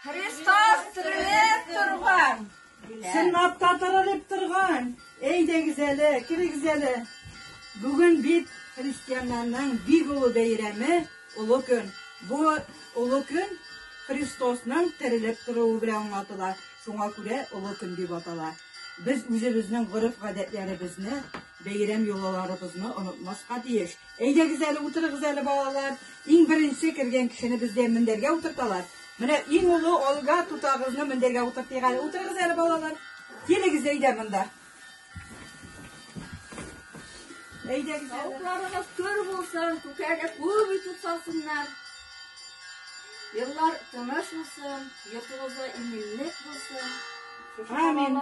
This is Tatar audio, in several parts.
Христос терелеп торган! Сыннатта терелеп торган! Әйдәгез әле, килегез әле. Бүген бит христианнарның бик олы бәйрәме, олы көн. Бу олы көн Христосның терелеп торуы белән аңлатыла. Шуңа күрә олы көн дип атала. Без үзебезнең гореф-гадәтләребезне Бәйрәм йолаларыбызны онытмаска тиеш. Әйдәгез әле, утырыгыз әле, балалар. Иң беренче кергән кешене бездә мендәргә утырталар. Менә иң олы Олга тутагызны мендәргә утыртыйк әле. Утырыгыз әле, балалар. Килегез әйдә монда. Әйдәгез. Тавыкларыгыз көр булсын, күкәгә күп итеп салсыннар. Еллар тыныш булсын, йортыгызда иминлек булсын. Амин.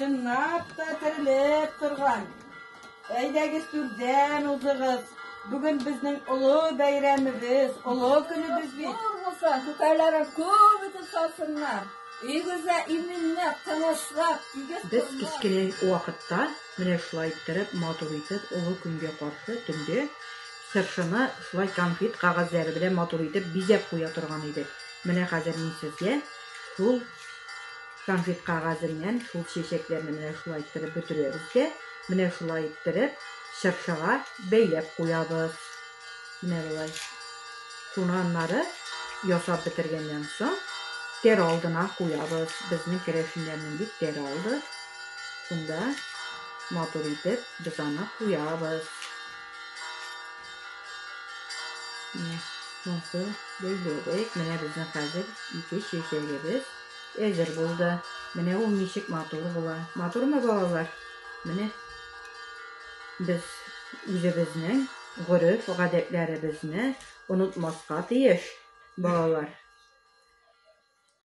Чынлап та терелеп торган. Әйдәгез түрдән узыгыз. Бүген безнең олы бәйрәмебез, олы көнебез бит. Булса, күкәләре күп итеп салсыннар. Игезә иминне тынычлап игез. Без кечкенә вакытта менә шулай иттереп матур итеп олы көнгә каршы төнге Чыршыны шулай конфет кәгазьләре белән матур итеп бизәп куя торган идек. Менә хәзер мин сезгә шул конфет кәгазеннән шул чәчәкләрне менә шулай иттереп бөтерәбез дә, менә шулай иттереп чыршыга бәйләп куябыз. Менә болай. Шуны аннары ясап бетергәннән соң тәр алдына куябыз. Безнең керәшеннәрнең бит тәре алды. Шунда матур итеп без аны куябыз. Менә соңгы бәйләдек. Менә безнең хәзер ике чәчәгебез әзер булды. Менә ул ничек матур була. Матурмы балалар? Менә без үзебезнең гореф гадәтләребезне онытмаска тиеш, балалар.